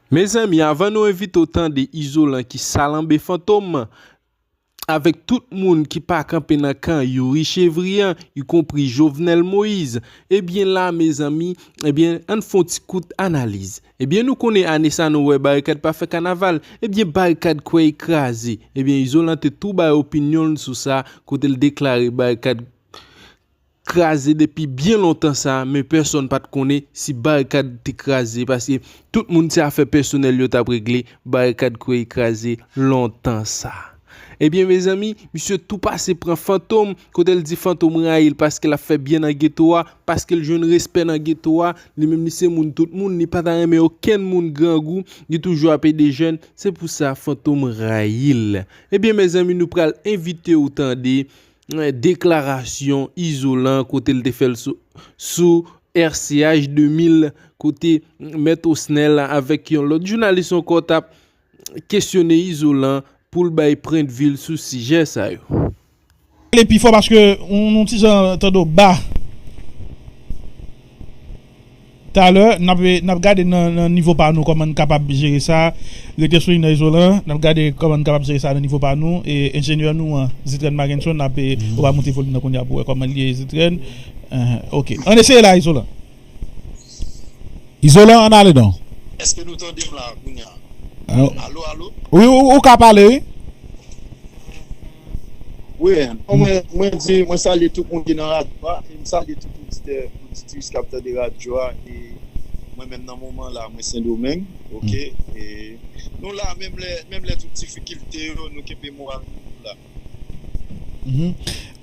Mezanmi avan nou envite w tande izolan ki salanbe fantom avèk tout moun ki pa kanpe nan kan youri chevriyan y konpri jovenel moïse ebyen la mezanmi ebyen ann fon ti kout analiz ebyen nou konnen ane sa nou wè barikad pa fè kanaval ebyen barikad kwèy kraze ebyen izolan te tou bay opinyonl sou sa kotel deklare barikad kraze depi byen lontan sa men pèsòn pat konnen si barikad te kraze paske tout moun se afè pèsonèl yo tap regle barikad kweye kraze lontan sa ebyen mezanmi misye tou pase pran fantom kotel di fantom rayil paske lap fè byen nan geto a paskel jwenn respè nan geto a li menm li se moun tout moun li pata renmen okenn moun grangou li toujou ap ede jèn se pousa fantom rayil ebyen mezanmi nou pral envitew tande. Deklarasyon Izolan kote l te fè l sou RCH 2000 kote Mèt Osnèl avèk yon lòt jounalis ankò t ap kesyone Izolan pou l bay pwendvi l sou sijè sa yo. Pale pi fò paske nou ti jan tande w ba. Talè nap gade nan nivo pa nou kòman n kapab jere sa, rete sou inè izolan an, nap gade kòman n kapab jere sa nan nivo pa nou, enjenyè nou an Zitrèn Makenson ap ou va moute volim nan kounya pou wè kòman l ye Zitrèn ok ann eseye la izolan. Izolan ann ale non. Eske nou tande m la kounya alo alo. Wi ou ka pale wi. Wi, mwen di, mwen salye tout moun ki nan radyo a, e m salye tout oditè, oditris k ap tande radyo a, e mwen menm nan moman la mwen sendomeng ok, e nou la menm lè menm lè tout difikilte yo nou kenbe moral nou nou la.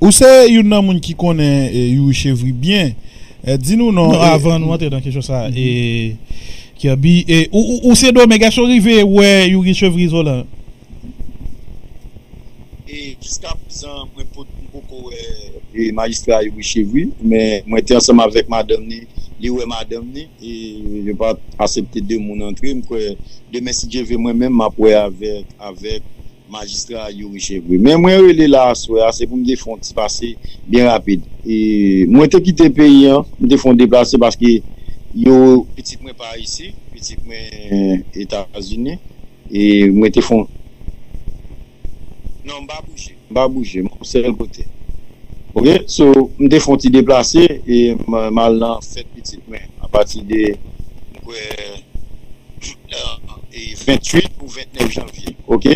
Ou se youn nan moun ki konnen Youri Chevry byen, di nou non e. Avan nou antre nan kesyon sa a, e Kirby, ou sendomeng èske ou rive wè Youri Chevry izolan? E jiska prezan mwen pot m poko wè e majistra Youri Chevry men mwen te ansanm avèk madanm ni li wè madanm ni e yo pat asepte 2 moun antre m kwè demen si Dye ve mwen menm map wè avèk avèk majistra Youri Chevry men mwen rele la aswè a se pou m te fè yon ti pase byen rapid e mwen te kite peyi an m te fè yon deplase paske yo pitit mwen pa ayisyen pitit mwen etazini. E m rete fon. Non m pa bouje. M pa bouje. M sèl kote. Ok. So, m te fon ti deplase e m al nan fèt pitit mwen. A pati de, m kwè, 28 ou 29 janvye. Ok.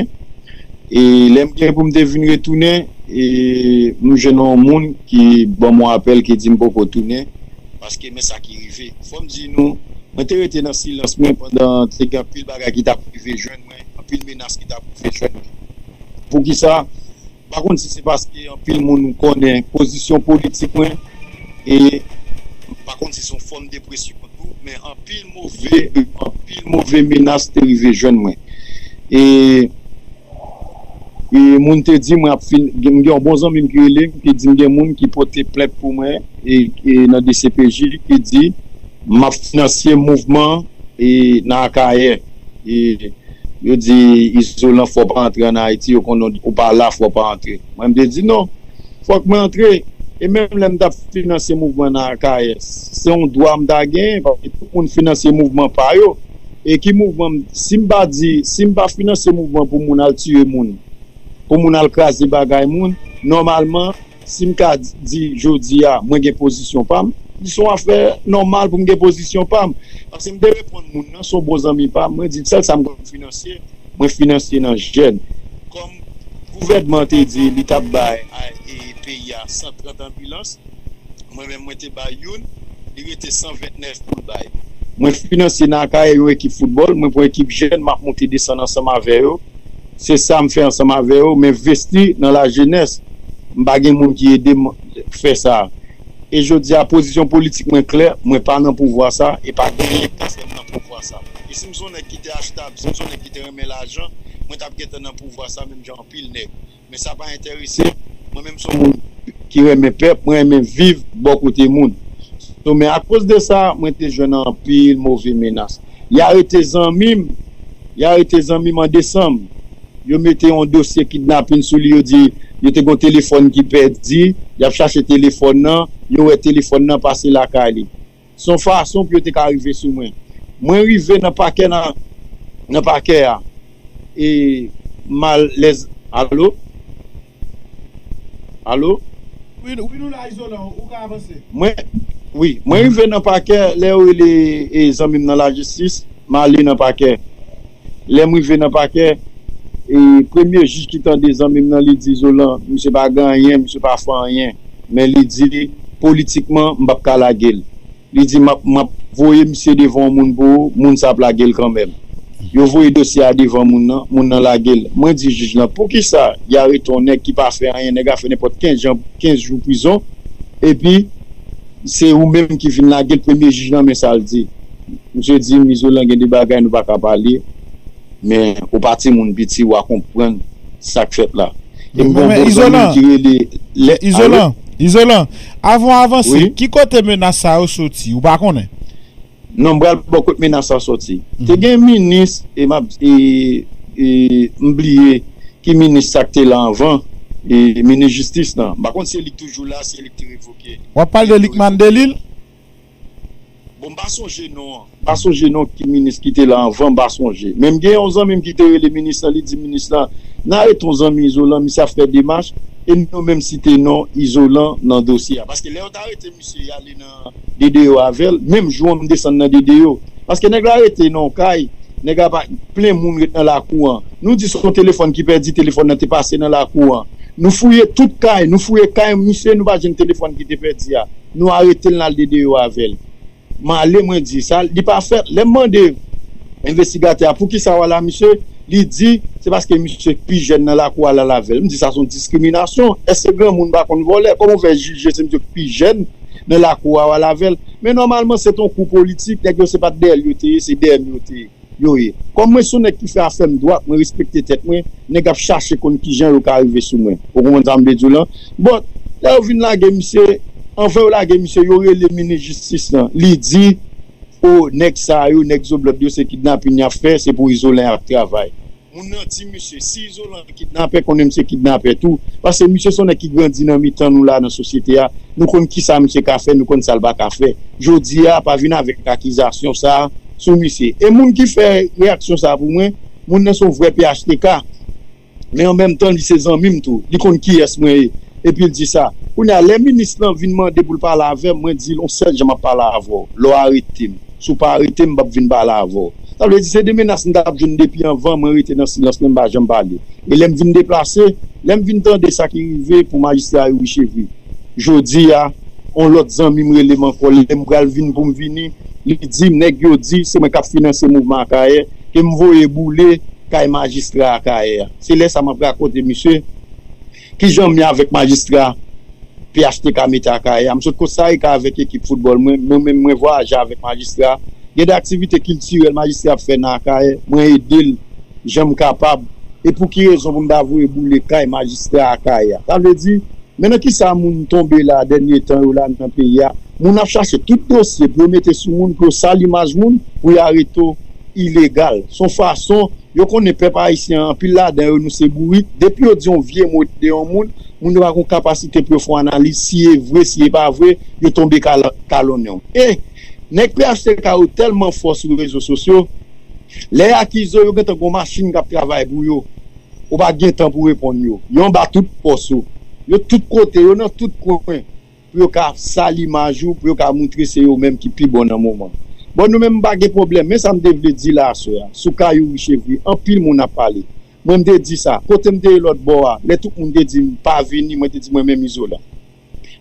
E lè m gen pou m te vin retounen, e m jwenn yon moun ki ban m yon apèl ki di m poko tounen. Paske men sa ki rive. Fò m di nou, mwen te rete nan silans mwen pandan te gen anpil bagay ki t ap rive jwenn mwen, anpil menas ki t ap rive jwenn mwen. Poukisa? M pa konn si se paske anpil moun konnen pozisyon politik mwen e m pa konn si se yon fòm depresyon tou, men anpil move, anpil move menas te rive jwenn mwen. E. E moun te di mwen ap fin gen m gen yon bon zanmi m ki rele m ki di m gen moun ki pote plent pou mwen e nan dcpj ki di m ap finansye mouvman e nan Akayè e yo di Izolan fò w pa antre an Ayiti yo konnen w pa la fò w pa antre mwen m te di non fòk mwen antre e menm lè m t ap finansye mouvman nan Akayè se yon dwa m ta genyen paske tout moun finansye mouvman pa yo E ki mouvman m si m pa di si m pa finanse mouvman pou moun al tiye moun pou moun al kraze bagay moun nòmalman si m ka di jodi a mwen gen pozisyon pa m li son afè nòmal pou m gen pozisyon pa m pase m te reponn moun nan son bon zanmi pa m mwen di l sèl sa m konn finanse mwen finanse nan jèn kòm gouvènman te di li t ap bay peyi a 130 anbilans. Mwen menm mwen te bay youn, li rete 129 poul bay. Mwen finanse nan Akayè yon ekip foutbòl, mwen pran ekip jèn map monte desann ansanm avè yo, se sam fè ansanm avè yo, men vesti nan la jenès, m pa gen moun ki edem fè sa. E jodia pozisyon politik mwen klè, mwen pa nan pouvwa sa e pa gen anyen kap fèm nan pouvwa sa. E sim son nèg ki te achtab, sim son nèg ki te renmen lajan, mwen tap gentan nan pouvwa sa menm jan anpil nèg. Men sa pa entèrese mwen menm son moun ki renmen pèp mwen renmen viv bò kote moun so men akoz de sa mwen te jwenn anpil move menas y arete zanmi m y arete zanmi m an desanm yo mete yon dosye kidnapin sou li yo di yo te gon telefòn ki pèdi y ap chache telefòn nan yo wè telefòn nan pase lakay li. Se yon fason pou yo te ka rive sou mwen. Mwen rive nan pakè nan nan pakè a e m al lè Alo? Alo? Wi nou la Izolan ou ka avanse. Mwen Wi mwen rive nan pakè lè yo rele zanmi m nan lajistis m ale nan pakè. Lè m rive nan pakè, premye jij ki tande zanmi m nan li di, Zolan, misye pa gen anyen, misye pa fè anyen. Men li di, politikman, m p ap ka lage l. Li di, m ap voye misye devan yon moun pou ou, moun sa ap lage l kanmenm. Yo voye dosye a devan moun nan, moun nan lage l. Mwen di jij lan, poukisa y arete yon nèg ki pa fè anyen, nèg la fè nenpòt kenz jou prizon, epi se ou menm ki vin lage l? Premye jij lan men sa l di. Misye di m izolan gen de bagay nou pa ka pale men ou pa timoun piti wa konprann sak fèt la epi gon bon zanmi m ki rele lè alo Izolan avan w avanse ki kote menas sa yo soti ou pa konnen? Non m pral ba w kot menas sa soti te gen minis e map m bliye ki minis sa k te la anvan minis jistis lan m pa konn si se li k toujou la si se li k te revoke Wap pale de Lickman Delil? Bon m pa sonje non an. M pa sonje non ki minis ki te la anvan m pa sonje. Men m gen yon zanmi m ki te rele minis lan li di minis lan nan ale ton zanmi Izolan misye ap fè demach e nou menm site non Izolan nan dosye a paske lè yo t arete misye y ale nan DDO avè l menm jou an m desann nan DDO paske nèg la rete nan yon kay nèg la pa plen moun ret nan lakou an nou di son telefòn ki pèdi telefòn nan te pase nan lakou an nou fouye tout kay nou fouye kay misye nou pa jwenn telefòn ki te pèdi a. Nou aretel nal dedeyo avel. Male mwen di sa li pa fèt lèm mande envestigatè a poukisa wala misye li di se paske misye k pi jèn nan lakou wal al avèl m di sa son diskriminasyon èske granmoun pa konn vòlè kòman ou fè jije se misye k pi jèn nan lakou a wal avèl men nòmalman se ton kou politik nèg yo se pat dèyèl yo te ye se dèyèm yo te ye. Yo ye. Kòm mwen son nèg ki fè afèm dwat, mwen respekte tèt mwen, nèg ap chache konn kijan yo ka rive sou mwen. Ou konprann sa m vle di w lan? But, lè yo vin lage misye, anvan yo lage misye, yo rele minis jistis lan. Li di, Oh, nèg sa yo, nèg Zoblòd yo se kidnapin y ap fè, se pou Izolan y ap travay. Moun nan di misye, si Izolan kidnapè konnen misye kidnapè tou, paske misye son nèg ki grandi nan mitan nou la nan sosyete a, nou konn kisa misye ka fè, nou konn sal pa ka fè. Jodi a pa vin avèk akizasyon sa sou misye. E moun ki fè reyaksyon sa pou mwen, moun nan son vrè phtk, men an menm tan li se zanmim tou, li konn kiyès mwen ye, epil di sa. Kounya lè minis lan vin mande poul pale avèm, mwen dil on sèl jan map pale avèw, lè w aretem. Si w pa arete m, m pap vin pale avè w. Sa vle di se 2 menas m t ap jwenn depi anvan, mwen rete nan silans mwen, m pa janm pale. E lè m vin deplase, lè m vin tande sa ki rive pou majistra Youri Chevry. Jodi a, yon lòt zanmi m rele m ankò, lè m pral vin pou m vini, li di m nèg yo di se mwen k ap finanse mouvman Akayè, ke m voye boule kay majistra Akayè a. Se lè sa m ap rakonte misye. Kijan m ye avèk majistra phtk mete Akayè a? M sot Kostarika avèk ekip foutbòl mwen, mwen menm mwen vwayaje avèk majistra a. Gen de aktivite kiltirèl majistra a ap fè nan Akayè, mwen ede l jan m kapab. E pou ki rezon pou m ta voye boule kay majistra Akayè a? Sa vle di, men nan kisa moun tonbe la dènye tan yo la nan peyi a, moun ap chache tout dosye pou yo mete sou moun, pou yo sal imaj moun, pou yo areto ilegal. S on fason Yo konnen pèp ayisyen an, anpil ladan yo nou se bourik, depi yo di yon vye mo de yon moun, moun yo pa gon kapasite pou yo fon analiz si e vre si e pa vre, yo tonbe kalonnen w. E, nèg phtk yo tèlman fò sou rezo sosyo, lè y akize w yo gentan gon machin k ap travay pou yo, ou pa gen tan pou reponn yo, yo anba tout pòs ou, yo tout kote, yo nan tout kwen. pou yo ka sal imaj ou, pou yo ka moutre se yo menm ki pi bon nan moman. Bon nou menm m pa gen pwoblèm, men sa m te vle di la aswè a, sou ka Youri Chevry, anpil moun ap pale. Mwen m te di sa, kote m te ye lòt bò a, lè tout moun te di m pa vini, mwen te di mwen menm Izolan,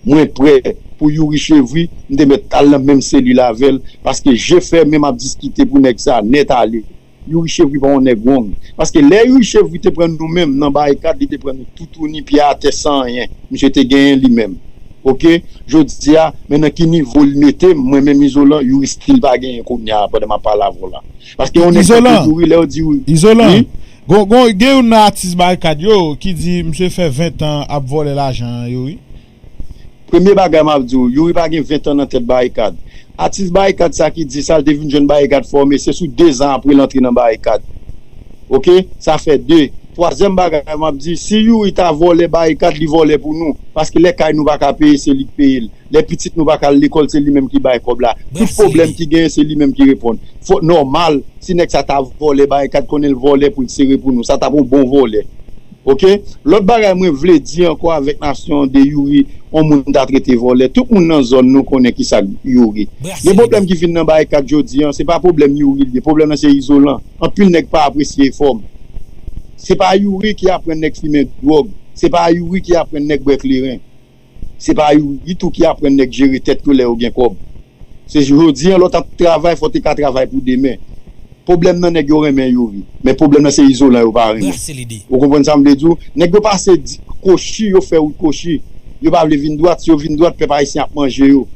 mwen prè pou Youri Chevry, m te mèt al nan menm selil avè l, paske je fèmen m ap diskite pou nèg sa nèt ale. Youri chevri pa yon nèg wong paske lè youri chevri te pran nou menm nan barikad li te pran nou toutouni pye atè san anyen misye te genyen li menm ok jodia men nan ki nivo li metem mwen menm izolan youri stil pa genyen kounya pandan map pale avèw la paske yon nèg tankou youri lèw di youri Izolan wi Izolan gen youn nan atis barikad yo ki di misye fè 20 tan ap vòlè lajan yo wi. Premye bagay map di w, youri pa gen 20 tan nan tèt barikad. Atis barikad sa ki di sa l te vin jwenn barikad fòme se sou 2 zan apre l antre nan barikad. Ok sa fè 2. Twazyèm bagay map di si youri ta vòlè barikad li vòlè pou nou paske lè kay nou pa ka peye se li k peye l, lè pitit nou pa ka al lekòl se li menm ki bay kòb la, tout pwoblèm ki genyen se li menm ki reponn. Fò nòmal si nèg sa ta vòlè barikad konnen l vòlè pou l sere pou nou sa tap yon bon vòlè. Ok lòt bagay mwen vle di ankò avèk nasyon de youri on moun ta trete vòlè tout moun nan zòn nou konnen kisak youri gen problèm ki vin nan bay kat jodi an se pa problèm youri liye problèm nan se izolan anpil nèg pa apresye efòm se pa youri ki aprann nèg fimen dwòg se pa youri ki aprann nèg bwè kleren. Se pa u u tou ki aprann nèg jere tèt yo lè yo gen kòb. Se jodi an lòt ap travay fò te ka travay pou demen. Pwoblèm nan nèg yo renmen Youri, men pwoblèm nan se Izolan yo pa renmen. Ou konprann sa m vle di w? Nèg yo pase kochi, yo fè wout kochi. Yo pa vle vin dwat, si yo vin dwat pèp ayisyen ap manje yo.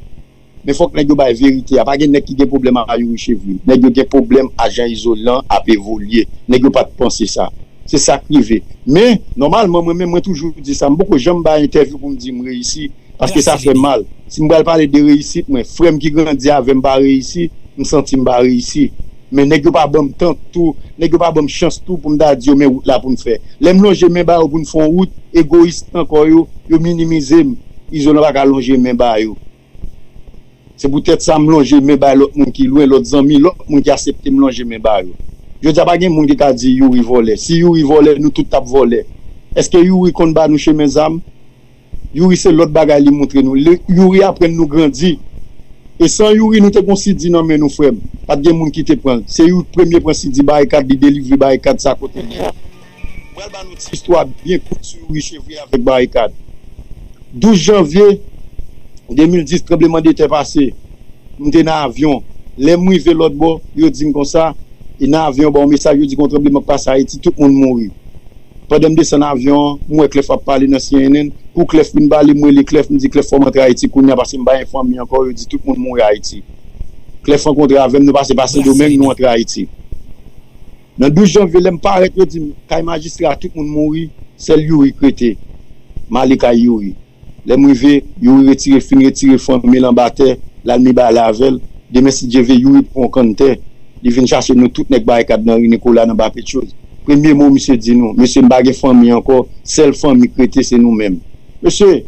Men fòk nèg yo bay verite a pa gen nèg ki gen pwoblèm a youri chevri nèg yo gen pwoblèm a jan izolan ap evolye nèg yo pat panse sa se sak rive men nòmalman mwen menm mwen toujou di sa m poko janm bay entèvyou pou m di m reyisi paske sa fè m mal si m pral pale de reyisit mwen frè m ki grandi avè m pa reyisi m santi m pa reyisi. Men nèg yo pa ban m tan tou, nèg yo pa ban m chans tou pou m ta di yo men wout la pou n fè. Lè m lonje men ba yo pou n fè yon wout, egoyis ankò yo, yo minimize m. Izolan pa ka lonje men ba yo. Se poutèt sa m lonje men bay lòt moun ki lwen, lòt zanmi, lòt moun ki asepte m lonje men ba yo. Jodi a pa gen moun ki ka di Youri vòlè. Si Youri vòlè, nou tout t ap vòlè. Èske Youri konn ba nou chemen zam? Youri se lòt bagay li moutre nou youri aprann nou grandi e san youri nou te gon CD nan men nou frèm pat gen moun kite pranl se youri ki premye pran CD barikad li delivre barikad sa kotel ye a m pral ba nou ti istwa byen kout sou youri chevrier avèk barikad 12 janvye 2010 tranbleman de tè pase m te nan avyon lèm rive lòt bò yo dim konsa e nan avyon yo ba yon mesaj yo di gon tranbleman k pase ayiti tout moun mouri. Pandan m desann avyon an, m wè Clef ap pale nan cnn. Kou Clef fin pale, m rele Clef, m di Clef fò m antre Ayiti kounya pase m pa gen fanmi ankò, yo di tout moun mouri Ayiti. Clef rankontre avè m, nou pase pa Sendomeng, nou antre Ayiti. Nan 12 janvye lè m parèt yo di m kay majistra a tout moun mouri, sèl Youri k rete. M ale kay Youri. Lè m rive, Youri retire fin retire fanmi l anba tè, l al mi bale avè l. Demen si Dye vle, Youri pran yon kann tè, li vin chache nou tout nèg Barikad nan Ri Nikola nan ba Petyoz. Premye mo misye di nou, Mesye m pa gen fanmi ankò, sèl fanmi k rete se nou menm. Mesye,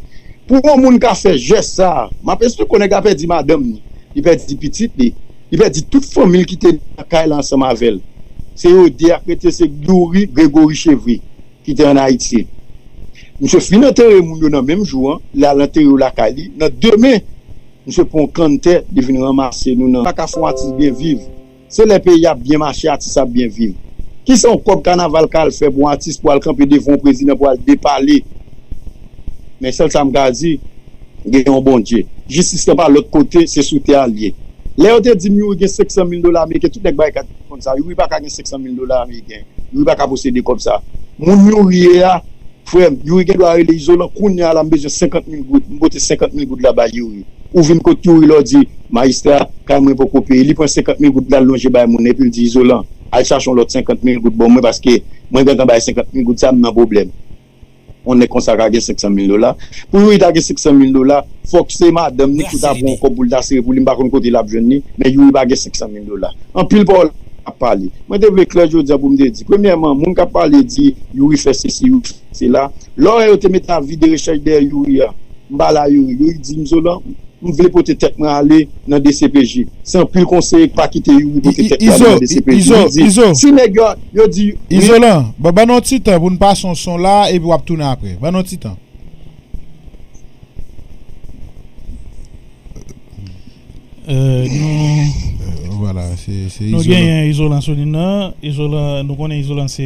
pou yon moun ka fè jès sa a, m ap esplike w, nèg la pèdi madanm ni, li pèdi pitit li, li pèdi tout fanmi l ki te nan kay la ansanm avè l. Se yo de a k rete se Youri, Gregori Chevri. ki te an Ayiti. Misye fin antere moun yo nan menm jou an, li al antere yo lakay li, nan demen misye pran yon kann tè li vin ranmase nou nan. Pa ka fè yon atis byen viv, se lè peyi a ap byen mache atis la ap byen viv. Kisa yon kòb kanaval ka al fè pou yon atis pou al kanpe devan yon prezidan pou al depale? Men sèl sa m ka di, gen yon Bondye. Jistis lan pa lòt kote, se sou tè a li ye. Lè yo te di m youri gen 500 mil dola ameriken, tout nèg bay kat. konn sa youri paka gen 500 mil dola ameriken youri paka posede kob sa moun youri ye a frem youri gen dwa rele izolan kounya la m bezwen 50 mil goud m pote 50 mil goud la bay youri ou vin kot youri la w di mayistra kay mwen poko peye li pran 50 mil goud lal lonje bay moun epil di izolan al chache yon lot 50 mil goud bon mwen paske mwen gentan bay 50 mil goud sa m nan pwoblem. Yon nèg konsa ka gen 500 mil dola. Pou Youri ta gen 500 mil dola, fòk se madanm li ki ta pran yon kòb pou li ta sere pou li. M pa konn kote l ap jwenn li, men Youri pa gen 500 mil dola. Anpil pawòl l ap pale. Mwen te vle klè jodi an pou m te di, premyèman, moun k ap pale di Youri fè sesi, Youri fè sela, lè w wè yo te mete avi de rechèch dèyè Youri a, M pa la Youri. Youri di Izolan, M vle pote tèt mwen ale nan dcpj. Se anpil konseye k pa kite Youri pote tèt li ale nan dcpj. Youri di, Si nèg yo, yo di, wi. Izolan, Bon, ban nou yon ti tan pou n pase yon son la epi w ap tounen apre. Ban nou yon ti tan. Nou genyen Izolan sou lin nan. Izolan, nou konnen Izolan se.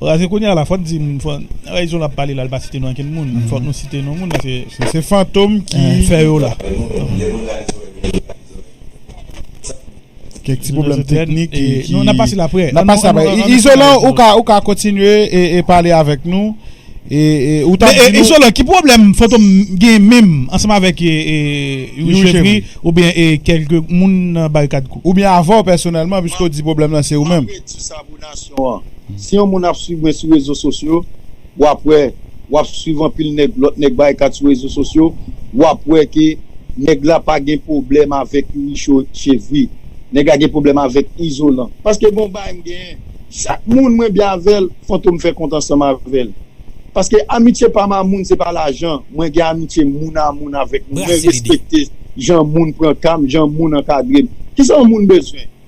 Raze kounye a la fòk di Ray Zola ap pale la li pa site non ankenn moun fòk nou site non moun paske se fantom ki fè yo la kèk ti pwoblèm teknik nou nan pase la aprè nan pase la aprè Izolan ou ka ou ka kontinye e pale avèk nou e ou ta di nou Izolan ki pwoblèm fantom gen menm ansanm avèk Youri Chevri oubyen kèlke moun nan barikad kou oubyen avèw pèsonèlman piske ou di pwoblèm lan se ou menm. Di sa pou nasyon an. Si yon moun ap swiv mwen sou rezo sosyo, wap wè, wap swiv anpil nèg, lòt nèg barikat sou rezo sosyo, wap wè ke nèg la pa gen pwoblèm avèk youri cho chevri. Nèg la gen pwoblèm avèk izolan. Paske gon bagay m genyen. Chak moun mwen byen avè l, Fantom fè kont ansanm avè l. Paske amitye pa m a moun se pa lajan. Mwen gen amitye moun a moun avèk moun. Mwen respekte jan moun pran ka m, jan moun ankadre m. Kisa yon moun bezwen?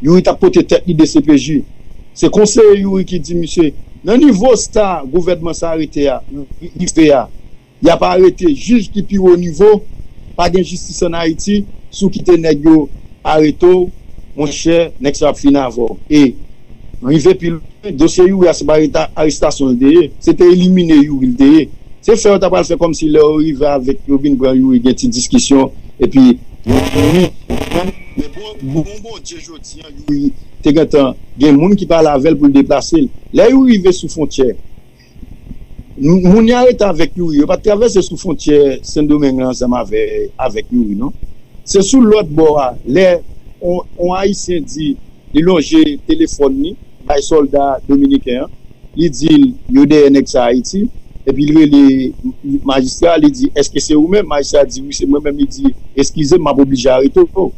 Youri tap pote tèt li dcpj. Se konseye Youri ki di misye nan nivo sta gouvènman sa rete a rive a yap arete jij ki pi wo nivo pa gen jistis an ayiti si w kite nèg yo arete w monchè nèg sa yo ap fini avè w e rive pi lwen dosye Youri a se pa arestasyon l te ye se te elimine Youri l te ye se fè yo ta pral fè kòmsi lè yo rive avè yo vin pran Youri gen ti diskisyon epi Men bon non Bondye jodi an Youri te gentan gen moun ki pale avè l pou l deplase l. Lè Youri rive sou fwontyè, moun y a rete avèk Youri yo pa t travèse sou fwontyè Sendomeng lan ansanm avèk Youri non. Se sou lòt bò a lè yon Ayisyen di li lonje telefòn li. bay solda dominiken an li dil yo dèyè nèg sa ayiti epi li rele majistra li di eske se ou menm majistra di wi se mwen menm li di eskizem map oblije arete w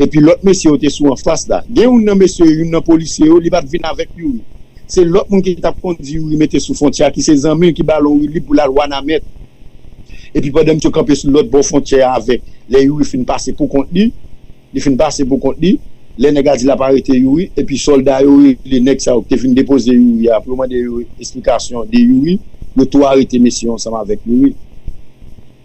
epi lot mesye yo te sou anfas la gen youn nan mesye yo youn nan polisye yo li pat vin avèk youri se lot moun ki tap kondi youri mete sou fontyè a ki se zanmi l ki bal on woulib pou lal wanament epi pandan misye kanpe sou lot bò fontyè a avèk lè youri fin pase pou kont li. Li fin pase pou kont li, lè nèg la di lap arete Youri, epi sòlda yo rele nèg sa yo ki te vin depoze Youri a pou yo mande yo esplikasyon de Youri, yo tou arete mesye yo ansanm avèk Youri.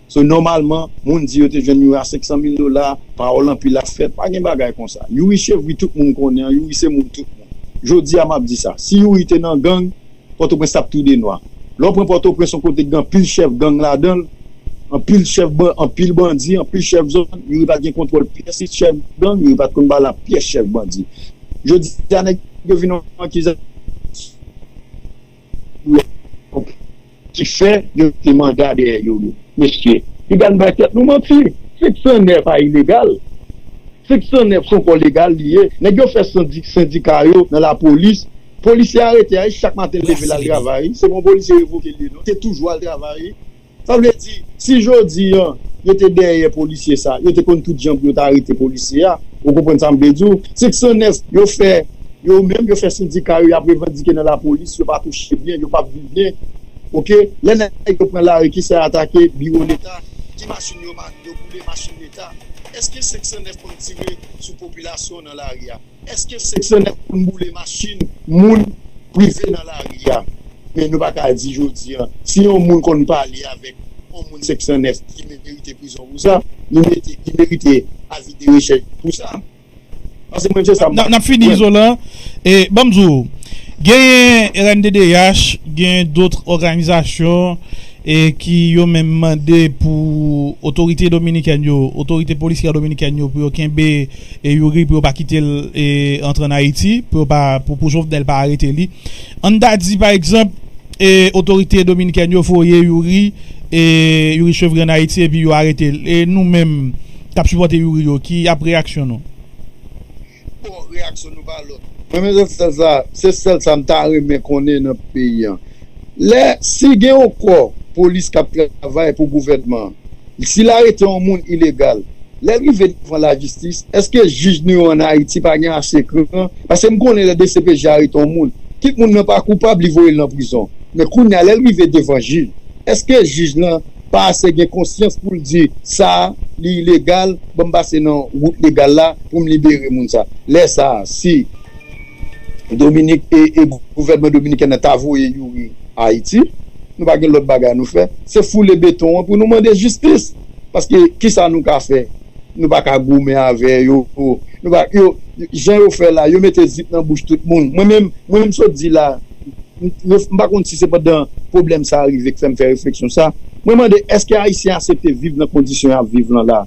So nòmalman, moun di yo te jwenn Youri a 500 mil dola, pawòl anpil ap fèt, pa gen bagay konsa. Youri chevri tout moun konnen an, Youri se moun tout moun. Jodi a map di sa, si Youri te nan gang, Pòtoprens t ap tou denwa. Lè w pran Pòtoprens, yon kote ki gen anpil chèf gang ladan l, anpil chèf bandi, anpil bandi, anpil chèf zòn, youri pa t gen kontwòl pyès chèf gang, youri pa t konn pale ak pyès chèf bandi. Jodi a nèg yo vin yon akizasyon pou yo konprann ki fè yo mete manda dèyè youri. Mesye, piga n bay tèt nou manti. 509 pa ilegal. 509 s on kò legal li ye. Nèg yo fè sendika yo nan lapolis. Polisye arete a wi chak maten li leve lal travay se bon polisye revoke li non te toujou al travay wi sa vle di si jodi an yo te dèyè polisye sa yo te konn tout jan pou yo ta arete polisye a ou konprann sam vle diw se k sanès yo fè yo menm yo fè sendika yo yap revandike nan lapolis yo pa touche byen yo pap viv byen ok lè nèg yo pran lari kisa yo atake biwo leta ki machin yo boule machin leta eske 509 pap tire sou popilasyon nan lari a. Eske seksyonè konn boule machin moun prive nan lari a? Men nou pa ka di jodi a, si yon moun konn pale avèk yon moun 509 li merite prizon pou sa, li mete li merite avi de rechèch pou sa. Pase mwen se sa m. Nap fini izolan e banm di w genyen rnddh genyen dotr òganizasyon e ki yo menm mande pou otorite dominikèn yo otorite polisyè dominikèn yo pou yo kenbe. E youri pou yo pa kitel antre an ayiti pou yo pa pou jovenel pa arete li ann ta di pa egzanp e otorite dominikèn yo voye youri e youri chevri an ayiti epi yo aretel e nou menm kap sipòte youri yo ki ap reyaksyon nou. Bon reyaksyon nou pa lòt. Mwen men rezistans la se sèl sa m ta renmen konnen nan peyi an Lè si gen yon kò polis k ap travay pou gouvènman an, si l arete yon moun ilegal, lè l rive devan lajistis, èske jij nou yo an Ayiti pa gen ase kran? Paske m konnen lè dcpj arete yon moun, kit moun nan pa koupab, li voye l nan prizon. Men kounye a, lè l rive devan jij, èske jij lan pa ase gen konsyans pou l di, sa a, li ilegal, ban m pase nan wout legal la pou m libere moun sa a? Lè sa a, si. Dominik e gouvènman dominiken nan ta voye youri ayiti nou pa gen lòt bagay nou fè se foule beton an pou nou mande jistis paske kisa nou ka fè nou pa ka goumen avè yo nou pa yo jan yo fè la yo mete zip nan bouch tout moun mwen menm mwen m sot di la m pa konn si se pandan pwoblèm sa rive k fè m fè refleksyon sa mwen mande èske ayisyen asepte viv nan kondisyon y ap viv lan la.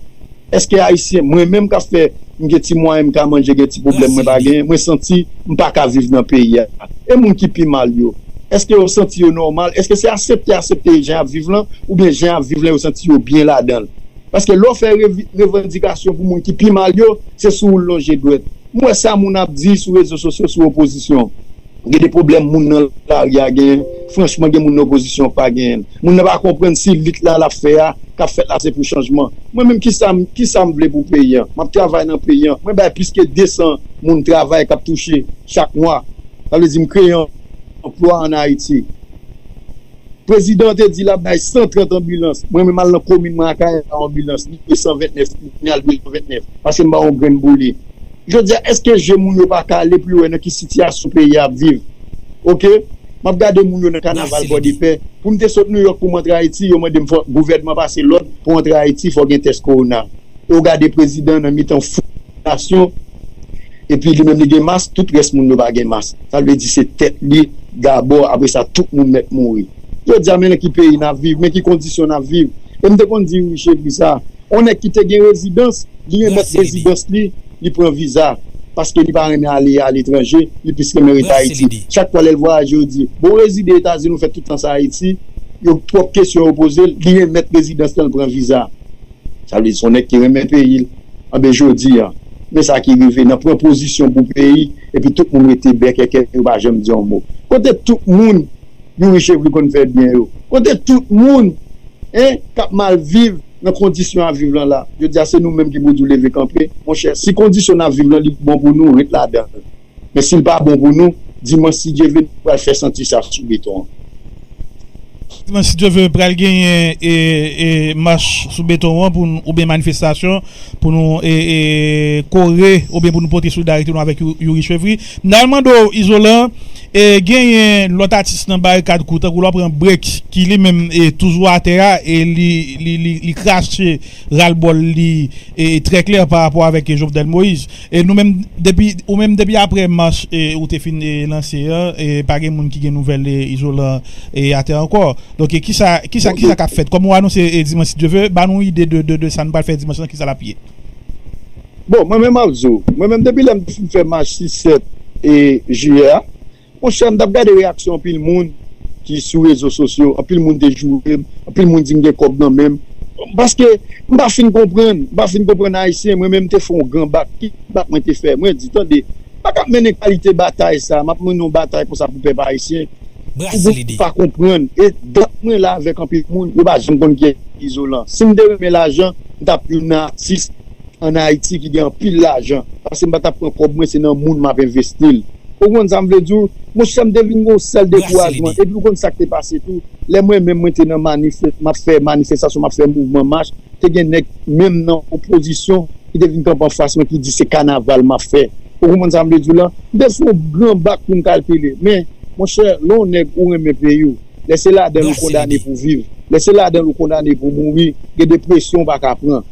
Eske ayisyen mwen menm kap fè m gen ti mwayen m ka manje gen ti pwoblèm mwen pa genyen mwen santi m pa ka viv nan peyi a e moun ki pi mal yo eske yo santi yo nòmal eske se asepte asepte jan yap viv lan oubyen jan yap viv lan yo santi yo byen ladan l paske lè w fè revandikasyon pou moun ki pi mal yo se sou ou l lonje dwèt m wè sa moun ap di sou rezo sosyo sou opozisyon. Gen de pwoblèm moun nan lari a genyen, franchman gen moun nan opozisyon pa genyen l. Moun nan pa konprann si lit la lap fè a, kap fèt la se pou chanjman. Mwen menm kisa m kisa m vle pou peyi an? Map travay nan peyi an, mwen bay plis ke 200 moun travay kap touche chak mwa. Sa vle di m kreye anplwa an Ayiti. Prezidan an te di lap bay 130 anbilans, mwen menm al nan komin mwen Akayè ba yon anbilans 229, mwen al 229 paske m pa yon grenn boule. Jodi a eske je moun yo pa kale pou yo wè nan ki sitiyasyon peyi a ap viv? Ok, map gade moun yo nan kanaval Pòdepè, pou m te sot Nouyòk pou m antre Ayiti yo mande m fò gouvènman pase lòd pou antre Ayiti fò gen tès kowona. E w gade prezidan nan mitan foul. Nasyon epi li menm li gen mas tout rès moun yo pa gen mas sa vle di se tèt li gabò apre sa tout moun mèt mouri jodi a men nan ki peyi nap viv men ki kondisyon nap viv e m te konn di wi chevy sa on nèg ki te gen rezidans li remèt rezidans li li pran viza paske li pa renmen ale aletranje li plis renmen rete ayiti chak fwa lèl vwayaje yo di bon ou rezide etazini ou fè tout tan sa ayiti yo twòp kesyon yo pozel li remèt rezidans lan l pran viza. Sa vle di son nèg ki renmen peyi l. Anben jodi an, men sa ki rive nan pran pozisyon pou peyi epi tout moun rete bèkèkè yo pa janm di yon mo. Kote tout moun Youri Chevry konn fè byen yo? Kote tout moun hein k ap mal viv nan kondisyon y ap viv lan la? Jodi a se nou menm ki pou di w leve kanpe monchè si kondisyon n ap viv lan li bon pou nou ret ladan l. Men si l pa bon pou nou, dimanch si Dye ve nou pral fè senti sa sou beton an. Dimanch si Dye ve pral genyen mach sou beton an pou nou oubyen manifestasyon pou nou kore oubyen pou nou pote solidarite nou avèk Youri Chevry. M ta al mande w Izolan, genyen lòt atis nan barikad kou tankou lò pran Break ki li menm toujou atè a e li krache ral bol li trè klè pa rapò avèk Jovenel Moïse e nou menm depi ou menm depi aprè mach ou te fin lanse an pa gen moun ki gen nouvèl Izolan atè ankò donk kisa kisa kisa kap fèt kòm ou anonse dimanch si Dye ve ba nou ide de sa nou pral fè dimanch lan kisa lap ye. Bon mwen menm map di w mwen menm depi lèm t fin fè mach 6 7 jiyè a. Monchè m tap gade reyaksyon anpil moun ki sou rezo sosyo, anpil moun te joure m, anpil moun di m gen kòb nan men m, paske m pa fin konprann, m pa fin konprann ayisyen, mwen menm te fè yon gran bak, ki bak mwen te fè, mwen di tande, m pa kab mennen kalite batay sa, m ap mennen yon batay konsa pou pèp ayisyen, pou moun pa konprann, e dat mwen la avèk anpil moun, yo pa janm konn kiyès ki izolan, si m te renmen lajan, m tap youn nan atis. an Haiti ki gen anpil lajan paske m pa tap pran kòb mwen se nan moun map envesti l ou konprann sa m vle di w monchè m te vin gen yon sèl dekourajman epi ou konn sak te pase tou lè mwen menm mwen te nan manif map fè manifestasyon map fè mouvman mach te gen nèg menm nan opozisyon ki te vin kanpe anfas mwen ki di se kanaval map fè ou konprann sa m vle di w la m te sou yon gran bak pou m kalkile men monchè lè w nèg ou renmen peyi w lè se ladan l ou kondane pou viv lè se ladan l ou kondane pou mouri gen depresyon ou paka pran.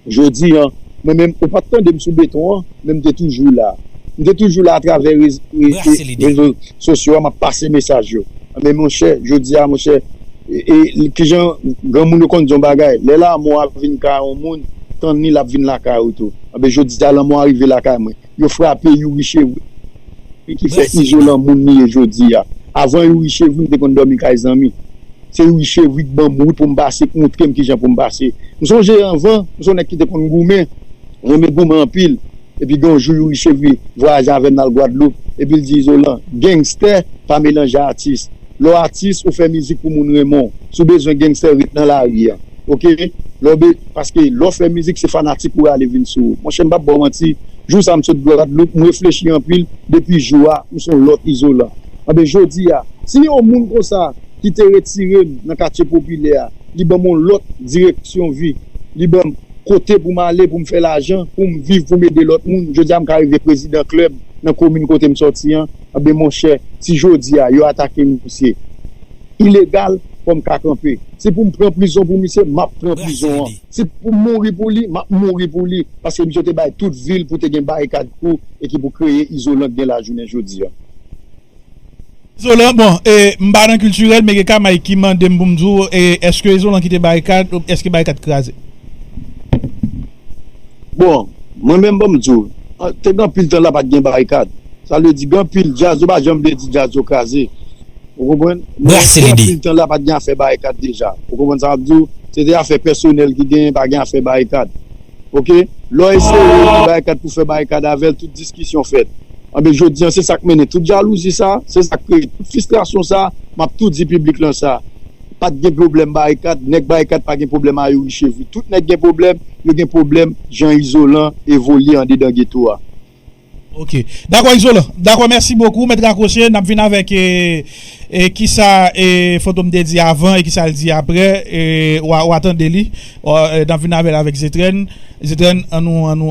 Jodi an, mwen menm, ou pa t tande m sou beton an, men m te toujou la. M te toujou la atravè rezo sosyo a, m ap pase mesaj yo. Men monchè, jodi a monchè, ki jan granmoun yo konn di yon bagay, lè lanmò a vin kay yon moun, tann li l ap vin lakay ou tou. Enben jodi a lanmò a rive lakay mwen. Yo frape Youri Chevry e ki fè Izolan moun li ye jodi a. Avan Youri Chevry m te konn dòmi kay zanmi. Se Youri Chevry ki ban m wout pou m pase, ki montre m ki jan pou m pase. M sonje anvan, m se yon nèg ki te konn goumen, m renmen goumen anpil. Epi gen yon jou Youri Chevry vwayaje avè m nan l Gwadloup, epi l di Izolan, Gangster pa melanje atis. Lè w atis ou fè mizik pou moun renmen w si w bezwen gangster ret nan lari a ok lè w be paske lè w fè mizik se fanatik ou rale vin sou ou monchè m pap ba w manti jou sa m sot gwadloup m reflechi anpil depi jou a m son lòt izolan anben jodi a si yon moun konsa ki te retire m nan katye popilè a li ban m yon lòt direksyon vi li ban m kote pou m ale pou m fè lajan pou m viv pou m ede lòt moun jodi a m ka rive prezidan klèb nan komin kote m sòti an. Anben monchè si jodi a yo atake misye ilegal fò m ka kanpe. Si pou m pran prizon pou misye m ap pran prizon an. Si pou m mouri pou li m ap mouri pou li paske misye te bay tout vi l pou te gen barikad kou e ki pou kreye izolan k gen la jounen jodi a. Izolan bon e m pa nan kiltirèl men gen kamay ki mande m pou m di w eske izolan kite barikad eske barikad kraze? Bon, mwen menm banm di w, te gen anpil tan la pat gen barikad. Sa vle di gen anpil djaz yo pa janm vle di djaz yo kraze. Ou konprann? Men te gen anpil tan la pat gen afè barikad deja. Ou konprann sa map di w? Se te afè pèsonèl ki genyen pa gen afè barikad. Ok? Lè w eseye di barikad pou fè barikad avè l tout diskisyon fèt. Anben jodi an se sak mennen tout jalouzi sa, se sak kreye tout fistrasyon sa, map tou di piblik lan sa. Pat gen pwoblèm barikad, nèg barikad pa gen pwoblèm a Youri Chevry. Tout nèg gen pwoblèm, yo gen pwoblèm jan Izolan evolye andedan geto a. Ok. Dakò Izolan. Dakò mèsi bokou. Mèt rakwoche, n ap vin avèk kisa Fantom te di avan e kisa l di aprè. Ou a tande li. N ap vin avè l avèk Zetrèn. Zetrèn, an nou.